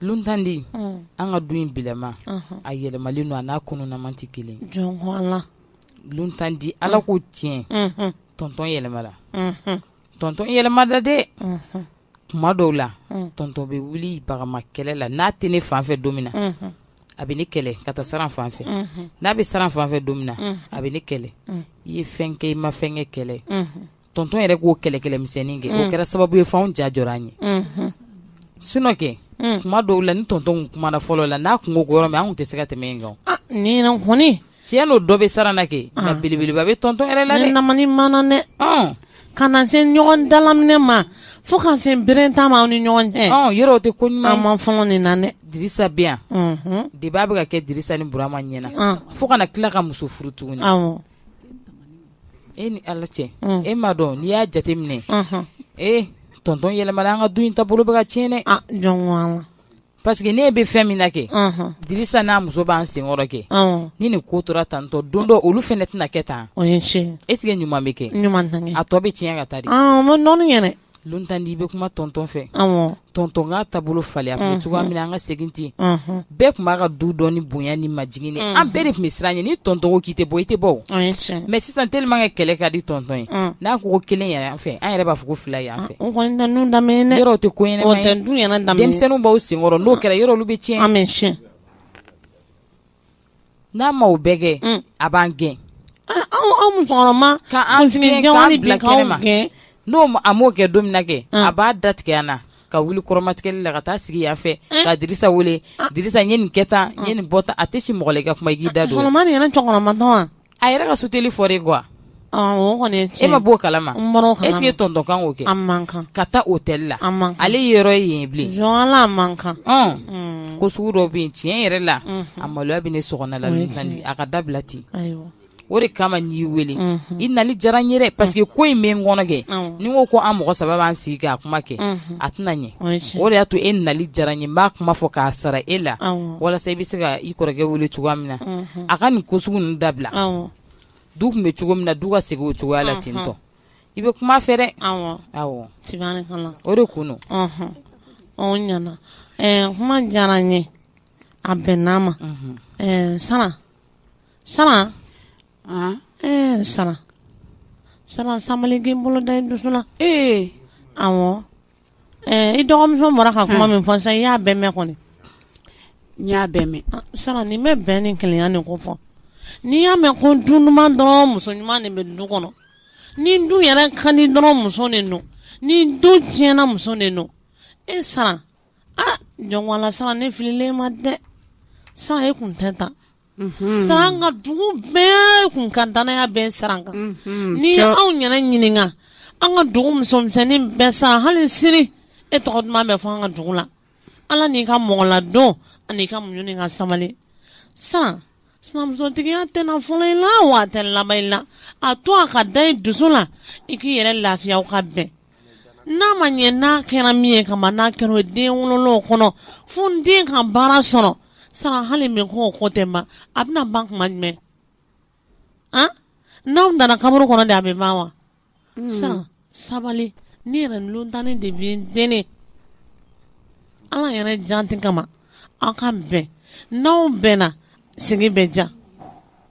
Luntandi an ka du in bilama a yɛlɛmalen don a n'a kununama tɛ kelen luntandi ala kɔ tiɲɛ tɔntɔn yɛlɛmana tɔntɔn yɛlɛmana dɛ tuma dɔw la tɔntɔn bɛ wuli bagama kɛlɛ la n'a tɛ ne fan fɛ don min na a bɛ ne kɛlɛ ka taa sara fan fɛ n'a bɛ sara fan fɛ don min na a bɛ ne kɛlɛ i ye fɛn kɛ i ma fɛn kɛ kɛlɛ tɔntɔn yɛrɛ k'o kɛlɛkɛmisɛnnin kɛ o mm. kɛra sababu ye fɛnw ja jɔ an ye mm-hmm. sunɔkɛ mm. kuma dɔw la ni tɔntɔn kumana fɔlɔ la n'a kungo gɔyɔrɔ min an tun tɛ se ka tɛmɛ in kan ah, ni kɔni tiɲɛ nɔ dɔ bɛ sara la kɛ ah. nka belebeleba bɛ tɔntɔn yɛrɛ la dɛ namani mana dɛ ah. kana se ɲɔgɔn dalaminɛ ma fo ka se bere ta ma aw ni ɲɔgɔn cɛ yɔrɔ o tɛ ko ɲuman an man fɔlɔ nin na dɛ dirisa bɛ yan mm-hmm. deba bɛ ka kɛ dirisa ni burama ɲɛna fo kana tila ka muso furu tuguni e ni ala cɛ e ma dɔn n'i y'a jateminɛ ee tɔntɔn yɛlɛmana an ka du in tabolo bɛ ka tiɲɛn dɛ parce que ne bɛ fɛn min na kɛ dirisa n'a muso b'an senkɔrɔ kɛ ni nin ko tora tantɔ don dɔ olu fana tɛna kɛ tan e sigi ɲuman bɛ kɛ a tɔ bɛ tiɲɛ ka taa dɛ Lontandi i bɛ kuma tɔntɔn fɛ tɔntɔn k'a taabolo falen an bɛ cogoya min an ka segin ten bɛɛ tun b'an ka du dɔn ni bonya ni maj an bɛɛ de tun bɛ siran ɲɛ ni tɔntɔn k'i tɛ bɔ i tɛ bɔ mɛ sisan tlima kɛ kɛlɛ ka di tɔntɔn ye n'a ko kelen yɛrɛ an fɛ an yɛrɛ b'a fɔ ko fila yan fɛ yɔrɔ tɛ ko denmisɛnnin b'aw senkɔrɔ n'o kɛra yɔrɔ bɛ tiɲɛ an n'a m'o bɛɛ kɛ a b'an gɛn, anw musokɔrɔba k'an gɛn k'an bila kɛnɛma n'o a m'o kɛ don min na kɛ a b'a da tigɛ an na ka wuli kɔrɔmatigɛli la ka taa sigi yan fɛ ka Dirisa wele Dirisa n ye nin kɛ tan n ye nin bɔ tan a tɛ si mɔgɔ la i ka kuma i k'i da don o la, musokɔrɔba nin yɛrɛ cɛkɔrɔbatɔ wa a yɛrɛ ka suteli fɔ de kuwa e ma b'o kala ese ye tɔntɔn kan o kɛ man kan ka taa o tɛli la ale yɔrɔ ye yen bilen man kan ko sugu dɔ bɛ yen tiɲɛ yɛrɛ la a maloya bɛ ne so la a ka dabila ten o de kama n y'i weele i nali diyara n ye parce que ko in bɛ n kɔnɔ kɛ ni ko ko an mɔgɔ saba b'an sigi k'a kuma kɛ a tɛna ɲɛ o de y'a to e nali diyara n ye n b'a kuma fɔ k'a sara e la walasa i bɛ se ka i kɔrɔkɛ wele cogoya min na a ka nin ko sugu ninnu dabila awɔ du tun bɛ cogo min na du ka segin o cogoya la ten tɔ i bɛ kuma a fɛ dɛ awɔ awɔ tiɲɛ na o de kun don ɔnhɔn ɔ o ɲana ɛɛ kuma diyara n ye a bɛnna n ma ɛɛ Saran Saran Ah, ɛɛ Saran Saran sabali k'i bolo da i dusu la ee awɔ Ɛɛ i dɔgɔmuso bɔra ka kuma min fɔ sa i y'a bɛɛ mɛn kɔni n y'a bɛɛ mɛn ah, Saran nin bɛɛ bɛ nin keleya nin ko fɔ n'i y'a mɛn ko du ɲuman dɔrɔn muso ɲuman de bɛ du kɔnɔ ni du yɛrɛ ka ɲi dɔrɔn muso de don ni du tiɲɛna muso de don e Saran a ah, jɔn ko ala Saran ne fililen i ma dɛ Saran e kun tɛ tan Saran an ka dugu bɛɛ tun ka dannaya bɛ Saran kan ni anw ɲɛna ɲininka an ka dugu musomisɛnnin bɛɛ Saran hali sini e tɔgɔ duman bɛ fɔ an ka dugu la ala n'i ka mɔgɔladon an'i ka muɲu ka sabali Saran sinamusotigiya tɛ fɔlɔ i la wa a tɛ laban i la a to a ka da dusu la i k'i yɛrɛ lafiya ka bɛn N'a ma ɲɛ n'a kɛra min ye kama n'a kɛra o den wolo kɔnɔ fo den ka baara sɔrɔ Saran hali min ko o ko tɛ ban a bɛna ban tuma jumɛn a n'aw donna kaburu kɔnɔ de a bɛ ban wa Saran sabali ne yɛrɛ Lontandi de b'i deli ala yɛrɛ jaati kama aw ka bɛn n'aw bɛnna sigi bɛ diya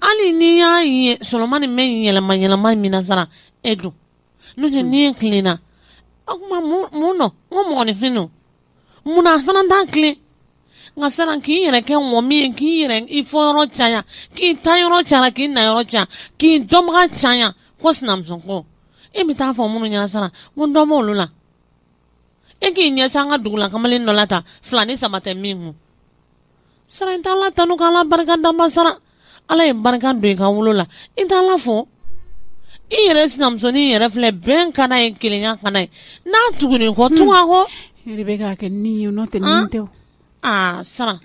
hali n'i y'a ye sɔrɔma ni mɛ yɛlɛma yɛlɛma min na sara e don n'o tɛ n'i ye tilenna o tuma mun mun nɔ n ko mɔgɔninfin don mun na fana t'an tilen nka sara k'i yɛrɛ kɛ mɔgɔ min ye k'i yɛrɛ i fɔ yɔrɔ caya k'i ta yɔrɔ caya k'i na yɔrɔ caya k'i dɔnbaga caya ko sinamuso kɔ e bɛ taa fɔ minnu ɲɛna sara n ko dɔ b'olu la e k'i ɲɛsin an ka dugula kamalen dɔ la ta fila ni saba tɛ min kun Sara i t' ala tanu k' ala barika da ba sara ala ye barika don i ka wolo la i t' ala fo i yɛrɛ sinamusonin yɛrɛ filɛ bɛn kana ye kelenya kana ye n'a tugu kɔ tu kɔ tɛ aa sara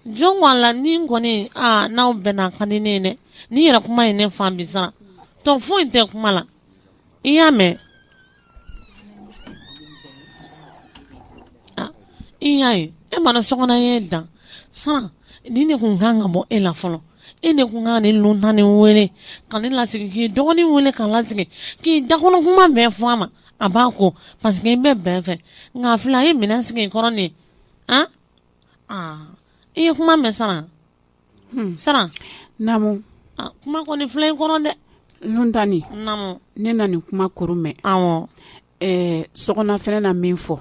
jɔn ko a la ne kɔni n'aw bɛnna a ka di ne ye dɛ n'i yɛrɛ kuma ye ne fan bi sara dɔ fɔ i tɛ kuma la i y'a mɛn ah, i y'a ye e mana sokɔnɔ ye dan sara ni ne kun kan ka bɔ e la fɔlɔ e ne kun kan ni lon tan ni wele ka ne lasigi k'i dɔgɔnin wele k'a lasigi k'i dakɔnɔ kuma bɛɛ fɔ a ma a b'a ko parce que i bɛ bɛn fɛ nka fila ye minɛn sigi i kɔrɔ nin ye an ah, ah, i ye kuma mɛn sara siran kuma kɔni fi in kɔrɔ dɛ n tan ni ne nana nin kuma kuru mɛn so fɛ n na min fɔ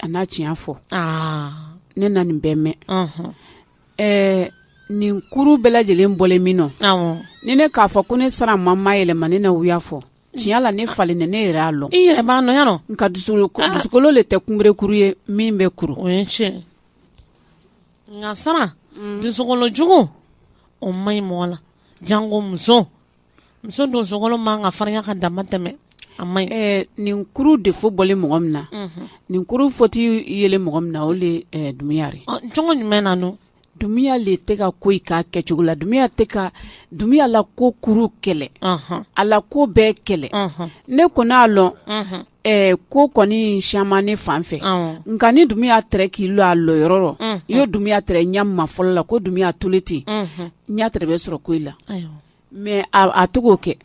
a n'a tiɲɛ fɔ ne nana nin bɛn mɛn nin kuru bɛɛ lajɛlen bɔlen min nɔ ni ne k'a fɔ ko ne sara ma mayɛlɛma ne na wuya fɔ tiɲɛ la ne farin ne ne yɛrɛ'a lɔn i yɛrɛ n ka dusukolo le tɛ kunberekuru ye min bɛ kuru nka sara mm. dusukolojugu o ma ɲi mɔgɔ la jango muso muso dusukolo man ka farinya ka damatɛmɛ a ma ɲi eh, nin kuru de fo bɔlen mɔgɔ min na mhm. nin kuru fɔti yele mɔgɔ min na o le eh, dumuya yɛrɛ cogo jumɛn na ni dumuya le tɛ ka ko in k'a kɛcogo la dumuya tɛ ka dumuya la ko kuru kɛlen a la ko bɛɛ kɛlen ne kɔni a lɔn ko kɔni siyaman ne fan fɛ nka ni dumuya tɛrɛ k'i lɔ a lɔyɔrɔ rɔ ye dumuya ɲɛ ma fɔlɔ la ko dumuya tolen ten n y'a bɛ sɔrɔ ko i la mɛ a to k'o kɛ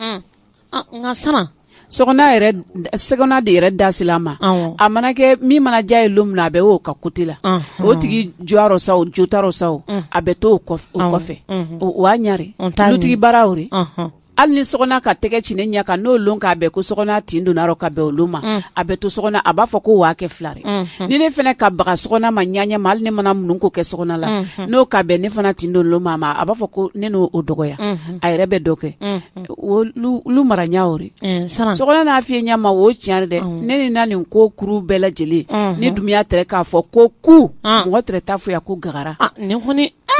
nka sama so sɛgɛnna de yɛrɛ da se a ma a mana kɛ min mana diya a ye don min a bɛ oo ka kote la o tigi jɔyɔrɔ sa jota sa a bɛ to o kɔfɛ o y'a ɲare dutigi baaraw hali ni Sɔgɔna ka tɛgɛ ci ne ɲɛ kan n'o don k'a bɛn ko Sɔgɔna tin donna ka bɛn olu ma mm. a bɛ to so a b'a fɔ ko waa kɛ filare mm-hmm. ni ne fana ka baga Sɔgɔna ma ɲɛ ma hali ne mana minnu ko kɛ Sɔgɔna la mm-hmm. n'o ka bɛn ne fana tin don ma ma a b'a fɔ ko ne n'o o dɔgɔya mm-hmm. a yɛrɛ bɛ dɔ kɛ olu mara ɲɛ o eh, Sɔgɔna fi ɲɛ ma o tiɲɛ dɛ mm. ne ni na nin ko kuru bɛɛ lajɛlen na Dunbiya tɛ k'a fɔ ko ku ah. mɔgɔ tɛ taa fo yan ko gagara ah,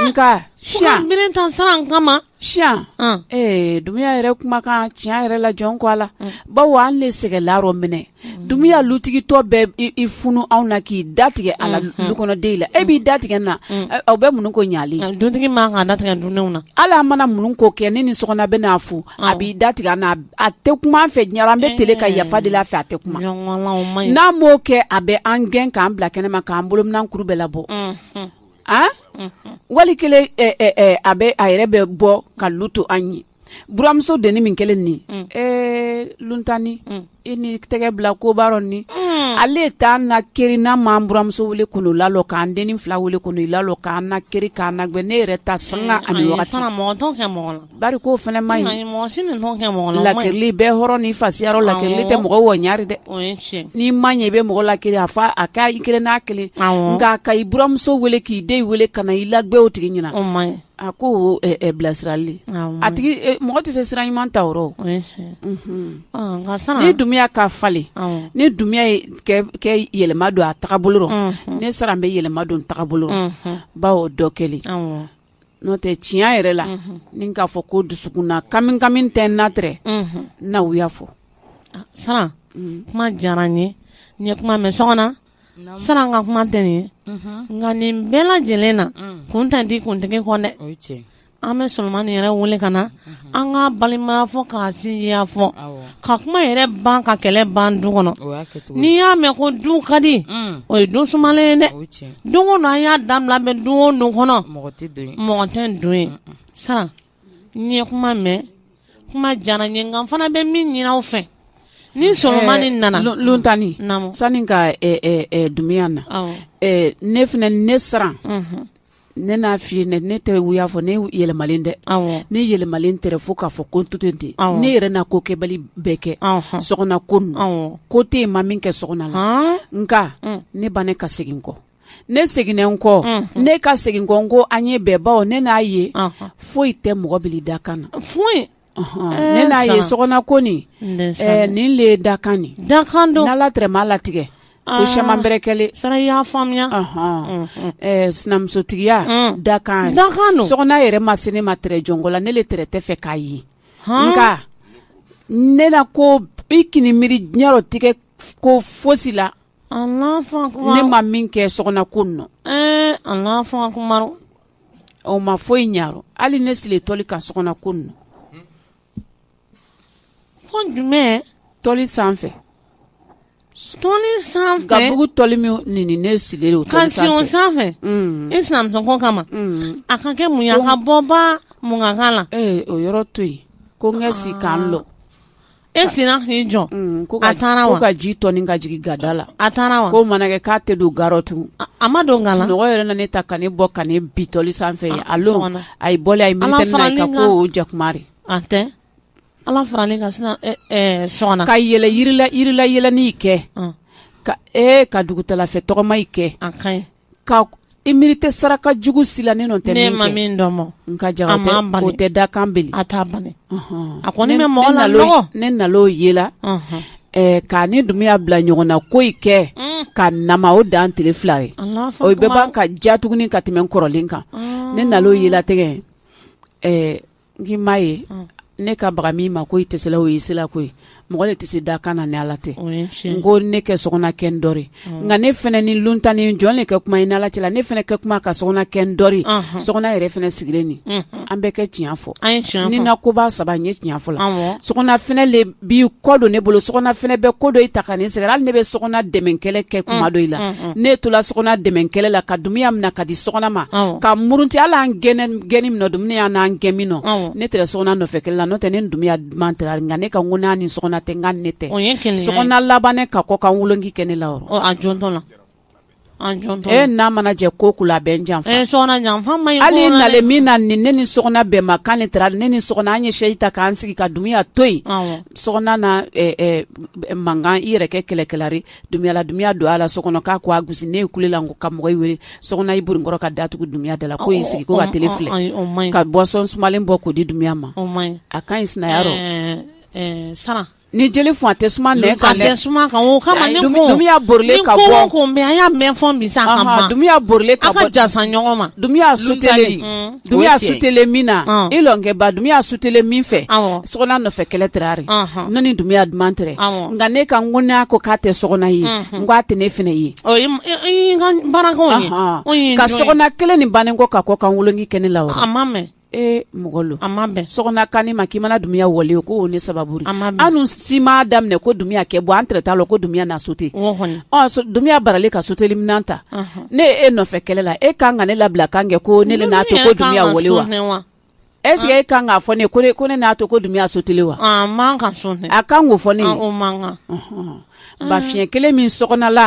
nka siya minɛn tan Saran kama tiɲɛ ee Dunbiya yɛrɛ kumakan tiɲɛ yɛrɛ la jɔn ko Ala bawo an de sɛgɛnla minɛ Dunbiya lutigitɔ bɛ i funu anw na k'i datigɛ a du kɔnɔden la e b'i datigɛ na aw bɛ mun ko ɲaga dutigi man kan da tigɛ dundenw na ale mana minnu ko kɛ ne ni Sɔgɔna bɛ n'a fɔ a b'i da tigɛ n a tɛ kuma fɛ ɲɛ an bɛ t ka yafa de la fɛ a tɛ kuma n'an b'o kɛ a bɛ an gɛn k'an bila kɛnɛ ma k'an bolo minan kuru bɛɛ la bɔ a wali kelen a bɛ a yɛrɛ bɛ bɔ ka lu to an ye buramuso denin min kɛlen nin ɛɛ luntani i ni tɛgɛ bila koba rɔ ni ale t'an nakiri n'a m'an buramuso wele k'olu lalɔ k'an denin fila wele k'olu lalɔ k'an nakiri k'an nagɛn ne yɛrɛ ta san ani Bari ko fana man ɲi, mɔgɔ si tɛ ɲɔgɔn kɛ mɔgɔ la, lakirili bɛ hɔrɔn ni fasiya rɔ lakirili tɛ mɔgɔ ɲɛ dɛ, o ye tiɲɛ ye, n'i ma ɲɛ i bɛ mɔgɔ lakiri a fɔ a ka i kiri n'a kelen ye, awɔ, nka a ka i buranmuso wele k'i den wele ka na i lagɛn o tigi ɲɛna, o man ɲi, a ko o ye ɛ ɛ bilasirali de ye, awɔ, a tigi e mɔgɔ tɛ se sira ɲuman ta o rɔ, o ye tiɲɛ ye, unhun, ɔ nka sisan, ni Dunbiya ka falen, awɔ, ni Dunbiya ye kɛ yɛlɛma don a taabolo rɔ, unhun, ne Saran bɛ yɛlɛma don n taabolo rɔ, unhun, bawo o dɔ kɛlen, awɔ n'o tɛ tiɲɛ yɛrɛ la ni k'a fɔ ko dusukun na kamikami tɛ n na tɛ n na u y'a fɔ Saran kuma diyara n ye n ye kuma mɛn Sɔgɔna Saran ka kuma tɛ nin ye nka nin bɛɛ lajɛlen na kun tɛ di kuntigi kɔ dɛ an bɛ Solomani yɛrɛ wele ka na an ka balimaya fɔ ka sinjiya fɔ ka kuma yɛrɛ ban ka kɛlɛ ban du kɔnɔ n'i y'a mɛn ko du ka di mm. o ye don suma ye dɛ don an y'a da bɛ don don kɔnɔ mɔgɔ tɛ don ye Saran n ye kuma mɛn kuma diyara n ye nka n fana bɛ min ɲin aw fɛ ni Solomani nana lontanani sani ka Dunbiya na ne fana ne Saran ne n'a f fɔi ne ne tɛ u y'a fɔ ne yɛlɛmalen dɛ ne yɛlɛmalen tɛ fo k'a fɔ ko to tɛ ten ne yɛrɛ n'a ko kɛbali bɛɛ kɛ Sɔgɔna ko ko tɛ yen n ma min kɛ Sɔgɔna la nka mm. ne bannen ka segin kɔ ne seginnen n kɔ mm-hmm. ne ka segin kɔ ko an ye bɛn bawo ne n'a ye foyi tɛ mɔgɔ bili dakan na ye sɔgɔna ko ni le dakan dakan don ala tɛrɛ m'a latigɛ ko sɛman bɛ kɛlen sara y'a faamuya sinamusotigiya dakan dakan sɔgɔna yɛrɛ ma se ne ma tɛrɛ jɔnko la ne le tɛrɛ tɛ fɛ k'a ye nka ne na ko i kan'i miiri diɲɛyɔrɔ tigɛ ko fosi la ne ma min kɛ sɔgɔna ko nɔ ɔ ma foyi in ɲa hali ne siri tɔli kan sɔgɔna ko nɔ ko jumɛn tɔli sanfɛ tɔli sanfɛ gabugu tɔli min nin ne siri o ka sanfɛ sanfɛ mm. i sinamuso ko kama mm. a ka kɛ mun ye a ka bɔba mun ka kan la ee eh, o yɔrɔ to yen ko n ka si k'an lɔ e sina k'i jɔ a taara wa ka ji tɔ ka jigin gada la a taara wa ko mana kɛ k'a tɛ don ga rɔ tun a ma dɔn nkalon mɔgɔ yɛrɛ ne ta ka ne bɔ ka ne bi tɔli sanfɛ ye a a ye bɔ a ye mi ka ko jakumari a tɛ ala faralen ka sina so ka yɛlɛ yirilayɛlɛni kɛ ka e ka dugutalafɛ tɔgɔma kɛ a ka ka i miiri tɛ saraka jugu si la ne tɛ ne ma min dɔn ma nka ja o tɛ da kan a taa ban a ko ne mɔgɔ la ne na o ye la k'a ni dumuya bila ɲɔgɔn na ko i kɛ mm. ka na o dan tele fila ye o bɛ ban ka ja tuguni ka tɛmɛ kɔrɔlen kan ne na o ye la tɛgɛ n'i m'a ye ne ka baga min ma ko i tɛ o ye sira ko ye mɔgɔ le tɛ se dakan na ni ala tɛ n ko ne kɛ sɔgɔna kɛ n dɔɔnin nka ne fana ni lontanani jɔn ne kɛ kuma i ni ala cɛ la ne fana kɛ kuma ka sɔgɔna kɛ n dɔ sɔgɔna yɛrɛ fana sigilen nin an bɛɛ kɛ tiɲɛ fɔ ni na koba saba n ye tiɲɛfɔ la so bi kɔ don ne bolo sɔgɔna fana bɛ ko dɔ i ta ka ne sɛgɛn hali ne bɛ sɔgɔna dɛmɛ kɛlɛ kɛ kuma dɔ i la mm, mm, mm. ne tola sɔgɔna dɛmɛ kɛlɛ la ka dumuya mina ka di sɔgɔna ma ka murunti ala n gɛnni min dumuya n'an gɛn min nɔ ne tɛ sɔgɔna nɔfɛ kɛlɛ la n'o tɛ ne dumuya duman tɛ nka ne ka ko n'a ni sɔgɔna tɛ n ka ne tɛ sɔgɔna labannen ka kɔkan woloki kɛ ne la e n'a mana jɛ ko kula bɛ jan hali na min na ni ne ni sɔgɔna bɛn ma kan ne taara ne ni sɔgɔna an ye sɛsi ta k'an sigi ka dumuya to yen sɔgɔna na mankan i yɛrɛ kɛ kɛlɛkɛlari dumuya la dumuya don a la so kɔnɔ k'a ko a gosi ne ye kulela ko ka mɔgɔ wele sɔgɔna i bori n kɔrɔ ka da tugu dumuya da la ko y'i sigi ko ka tele filɛ ka bɔsɔn sumalen bɔ k'o di dumuya ma a ka ɲi sina Ni jeli fɔn a tɛ suma nɛn kan dɛ, a tɛ suma kan o kama ne ko, ni dumuya bɔrilen ka bɔ, ni ko o ko mɛ an y'a mɛn fɔ bi sa a ka ban, dumuya bɔrilen ka bɔ, aw ka jansa ɲɔgɔn ma, dumuya suteli, dumuya suteli min na, ɔn, i lɔnkɛba dumuya suteli min fɛ, awɔ, sɔgɔna nɔfɛ kɛlɛ tirari, ɔnhɔn, ne ni dumuya duman tɛrɛ, awɔ, nka ne ka n ko n'a ko k'a tɛ sɔgɔna ye, unhun, n ko a tɛ ne fana ye, ɔ i y'i ka baarakanw ye, ɔnhɔn, ka sɔgɔna kelen nin bannen kɔ ka kɔkan woloki kɛ ne la wa, a ma mɛn e mɔgɔ a ma bɛn Sɔgɔna kan ma k'i mana Dumuya wɔle ko ne sababu an si ma daminɛ ko Dumuya kɛ bɔ an t'a la ko Dumuya na sote Dumuya baralen ka soteli minɛn ta ne e nɔfɛ kɛlɛ la e kan ka ne labila kan kɛ ko ne n'a to ko Dumuya wɔle wa ese e kan k'a fɔ ne ko ne n'a to ko Dumuya soteli wa a kan k'o fɔ ne Mm. ba fiɲɛ kelen min Sɔgɔna la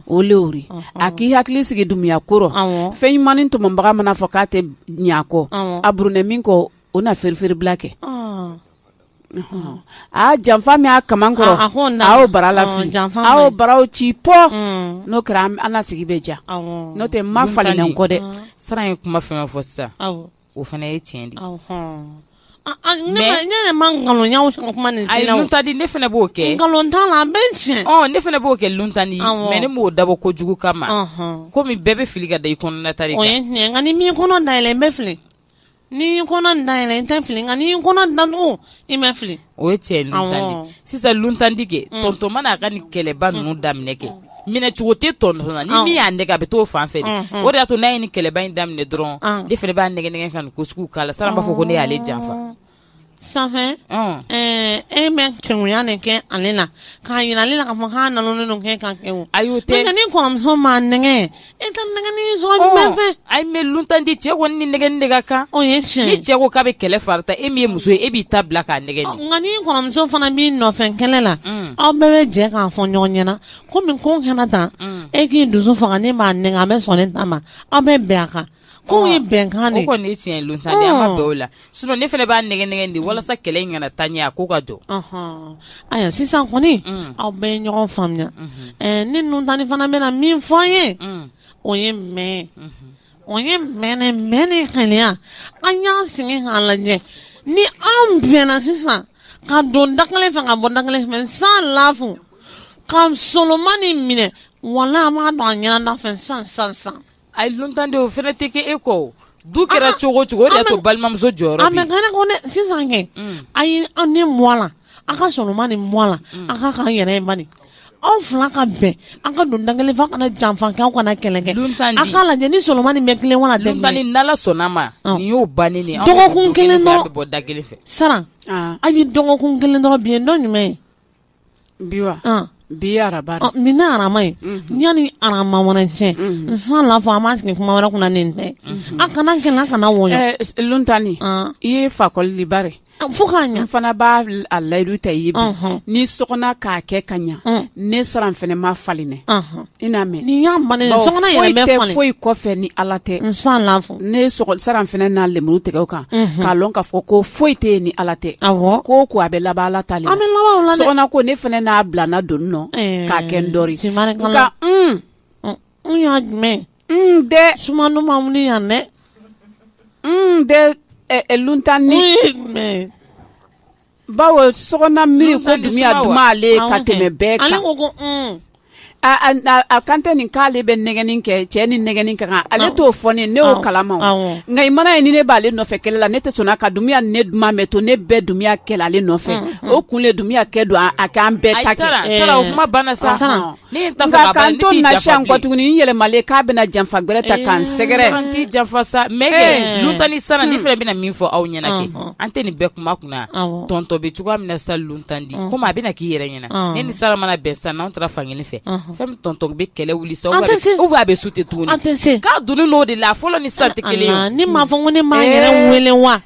o leori a k'i hakili sigi Dumuya kɔrɔ fɛn ɲumannin tɔmɔbaga mana fɔ k'a tɛ ɲakɔ a burunɛ min kɔ o na feerefeerela kɛ a janfa min y'a ka kɔrɔ aw bara lafi aw baraw ci pɔ mm. n'o kɛra an sigi bɛ diya n tɛ n ma falen kɔ dɛ Saran ye kuma fɛn fɔ sisan o fana ye tiɲɛ de ta di ne fana b'o kɛ nkalon ne fana b'o kɛ Luntandi mɛ ne b'o dabɔ kojugu kama kɔmi bɛɛ bɛ fili ka da i kɔnɔna ta nka n'i m'i kɔnɔ dayɛlɛ i bɛ fili n'i kɔnɔ dayɛlɛ i tɛ fili nka ni kɔnɔ dan i ma fili O ye cɛ sisan Luntandi kɛtɔma n'a ka ni kɛlɛba ninnu daminɛ kɛ minɛcogo tɛ tɔn min y'a nɛgɛ a bɛ to fan fɛ o de y'a to n'a ye ni kɛlɛba in daminɛ dɔrɔn ne fana b'a nɛgɛn ka ko sugu k'a la san b'a fɔ ko ne y'ale janfa san e bɛ kɛya nin kɛ ale na k'a jira ale la ka makan kɛ a y'o tɛ ni kɔrɔmuso ma nɛgɛ E ka a bɛ tanden cɛ kɔni ni nɛgɛ ne ka kan ni cɛ ko k'a bɛ kɛlɛ farata e min ye muso ye e b'i ta bila k'a nɛgɛ ni kɔrɔmuso fana b'i nɔfɛ kɛlɛ la aw bɛɛ bɛ jɛ k'a fɔ ɲɔgɔn ɲɛna ko ko kana taa e k'i dusu fanga ne b'a nɛgɛ an bɛ sɔn ne ta ma aw bɛ bɛn a kan ko ye bɛnkan de kɔni tiɲɛ don tan an ma dɔw la sun ne fana b'a nɛgɛ nɛgɛ de walasa kɛlɛ in kana taa ɲɛ a ko ka jɔ ayiwa sisan kɔni aw bɛ ɲɔgɔn faamuya ni Luntandi fana bɛna min fɔ an ye o ye mɛ o ye mɛnɛ mɛ ne kaya an y'an sigi k'a lajɛ ni an bɛnna sisan ka don da kelen fɛ ka bɔ da kelen fɛ san lafu ka Solomani minɛ wala an b'a dɔn an ɲɛna fɛ san san san A ye Luntandi o fana tɛ kɛ e kɔ o, du kɛra cogo o cogo o de y'a to balimamuso jɔyɔrɔ bɛ yen, a man gɛlɛn dɛ, mais sisan kɛ, un, a ye an ni mɔɔ a la, a ka sɔn nin ma, nin mɔɔ a la, un, a ka kan an yɛrɛ bani, aw fila ka bɛn, an ka don da kelen fɛ, aw kana janfa kɛ, aw kana kɛlɛ kɛ, Luntandi, a k'a lajɛ ni Solomani bɛ tilen wa, Luntandi ni Ala sɔnn'a ma, ɔ, nin y'o bannen de ye, dɔgɔkun kelen dɔrɔn, aw bɛ bɔ da kelen fɛ, Saran, an, a ye dɔgɔkun kelen dɔrɔn bi ye don jumɛn ye? bi wa an bi araba ɔ min na araba ye yanni araba wɛrɛ cɛ n san la fɔ an bɛ sigi kuma wɛrɛ kunna nin tɛ a kana kɛlɛ a kana wɔyɔ Eh, s- luntani Ah. i ye fakɔli de bare A, fo k'a ɲa n fana b'a l- a layidu ta i ye bi Ɔnhɔn. ni Sɔgɔna k'a kɛ ka ɲa Ɔn. ne Saran fana ma falenɛ Ɔnhɔn. I n'a mɛn ni y'a mɛn foyi kɔfɛ ni ala tɛ n san ne sara fana n'a lemuru tigɛ kan k'a dɔn k'a fɔ ko foyi tɛ yen ni ala tɛ ko o ko a bɛ laban ala ta le sɔgɔna ko ne fana n'a bila n don nɔ k'a kɛ n dɔ y'a jumɛn dɛ suman yan dɛ dɛ tan ni bawo sɔgɔna miiri ko dumuya duman ale ye ka tɛmɛ bɛɛ kan a kan tɛ nin k'ale bɛ nɛgɛni kɛ cɛ ni nɛgɛni kɛ kan ale t'o fɔ ne ne y'o kalama nka i mana ye ni ne b'ale nɔfɛ kɛlɛ la ne tɛ sɔnna ka dumuya ne duman mɛ to ne bɛ dumuya kɛla ale nɔfɛ o kun le dumuya kɛ don a k'an bɛɛ ta sara o kuma banna sa nka kan to na siyan kɔ tuguni n yɛlɛmalen k'a bɛna janfa gɛrɛ ta k'an sɛgɛrɛ n t'i janfa sa mɛ kɛ lunta ni sara ne fana bɛna min fɔ aw ɲɛna kɛ an tɛ nin bɛɛ kuma kunna tɔntɔ bɛ cogoya min na sa luntan di komi a bɛna k'i yɛrɛ ɲɛna ne ni sara mana bɛn sa n'anw taara fankelen fɛ fɛn min tɔntɔ bɛ kɛlɛ wuli sa u a bɛ su tɛ tuguni k'a donni n'o de la fɔlɔ ni sa tɛ kelen ye ni maa fɔ ko ne maa yɛrɛ wele wa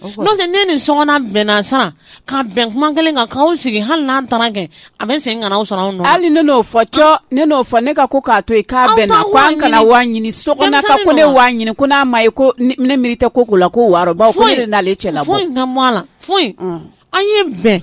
n'o tɛ ne ni sɔgɔna bɛnna sara ka bɛn kuma kelen kan k'o sigi hali n'a taara kɛ a bɛ segin ka na o sɔrɔ a nɔ hali ne n'o fɔ cɔ ne n'o fɔ ne ka ko k'a to yen k'a bɛnna ko an kana wa ɲini sokɔnɔ ka ko ne wa ɲini ko n'a ma ye ko ne miiri tɛ ko ko la ko wɔɔrɔ baw ko ne de n'ale cɛ la bɔ foyi na bɔ a la foyi an ye bɛn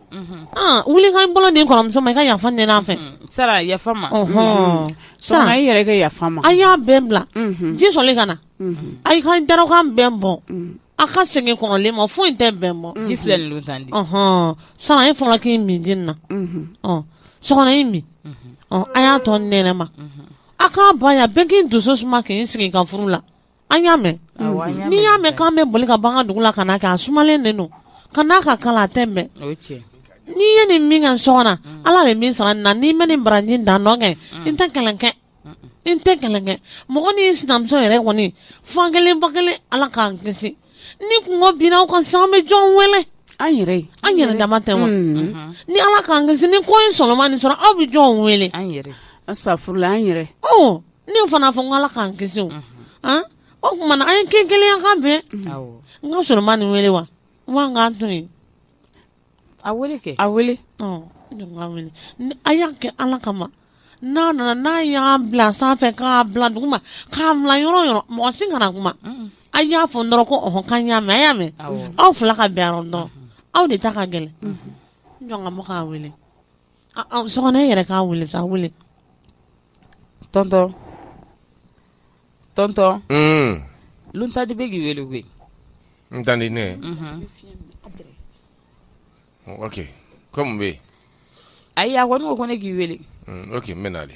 wuli ka bolo di n kɔrɔmuso ma i ka yafa n fɛ sara yafa ma sara i yɛrɛ ka yafa ma a y'a bɛɛ bila ji sumalen ka na a ka dakan bɛn bɔ a ka segin kɔrɔlen ma foyi tɛ bɛn bɔ ji filɛ tan di sara ye fɔlɔ k'i min di na sɔgɔna i min a y'a to ne ma a ka ban yan bɛɛ k'i dusu suma k'i sigi ka furu la an y'a mɛn n'i y'a mɛn k'an bɛ boli ka ban dugu la ka kɛ a sumalen de don ka n'a ka kalan tɛ mɛn n'i ye nin min ka so na mm. ala de min sara na n'i ma nin baraji dan dɔn kɛ mm. n tɛ kalankɛ n tɛ kalankɛ mɔgɔ ni sinamuso yɛrɛ kɔni fa kelen ba kelen ala k'an kisi ni kunko binna an kan sa an bɛ jɔn wele an yɛrɛ an yɛrɛ dama tɛ wa mm. mm-hmm. ni ala k'an kisi ni ko ye solomani sɔrɔ an bɛ jɔn wele an yɛrɛ an safurula an yɛrɛ ne fana fɔ n ala k'an kisi o tuma a ye kɛ kelen ye ka bɛn n ka solomani wele wa k'an to yen a kɛ a a y'a kɛ ala kama n'a nana n'a y'a bila sanfɛ k'a bila duguma k'a bila yɔrɔ o yɔrɔ mɔgɔ si kana kuma a y'a fɔ n dɔrɔn ko ɔhɔn k'a y'a mɛn a y'a mɛn aw fila ka bɛn yɔrɔ dɔn aw de ta ka gɛlɛn jɔn ka mɔgɔ k'a wele yɛrɛ k'a weele sa weele tɔntɔn tɔntɔn tanti bɛ k'i weele koyi n tanti ne ok kɔmi bɛ yen ayi a ko ne ko ne k'i weele ok n bɛ na dɛ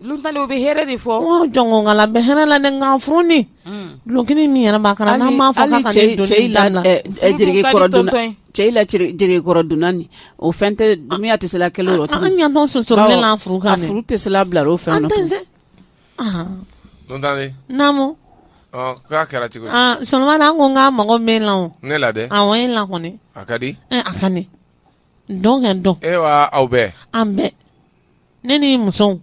Dɔw bɛ hɛrɛ de fɔ jɔnkala bɛ hɛrɛ la kanffi duloki min yɛrɛ b'a kan na n ma fɔ cɛkɔrɔ dunani o fɛn tɛ miya tɛ se kelen yɔrɔ ɲɛ furu furu tɛ se bila o fɛn naamu k'a kɛra cogo soma ko n ka mɔgɔ bɛ la ne la a la a ka di a ka Dɔn ka dɔn e aw bɛ an bɛɛ ne ni musow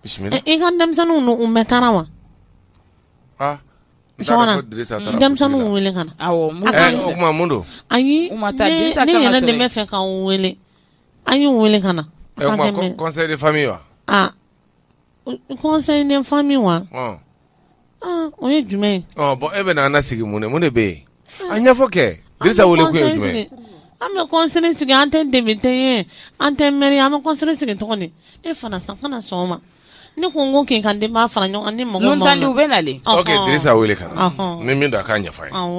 bisimila i ka denmisɛnninw ninnu u bɛɛ taara wa denmisɛnninw weele ka na don ayi ne fɛ k'u weele an y'u weele ka na fa wa conseil de famille wa o ye jumɛn bɔn e bɛ an sigi mun mun de bɛ yen a ɲɛfɔ kɛ jumɛn an bɛ conseil sigi an tɛ depite ye an tɛ mɛri an bɛ conseil sigi tɔgɔ e fana sa kana sɔn ma ne ko n ko kin ka denw fara ɲɔgɔn ni mɔgɔ u bɛ na wele ka ni min da k'a ɲɛfɔ ye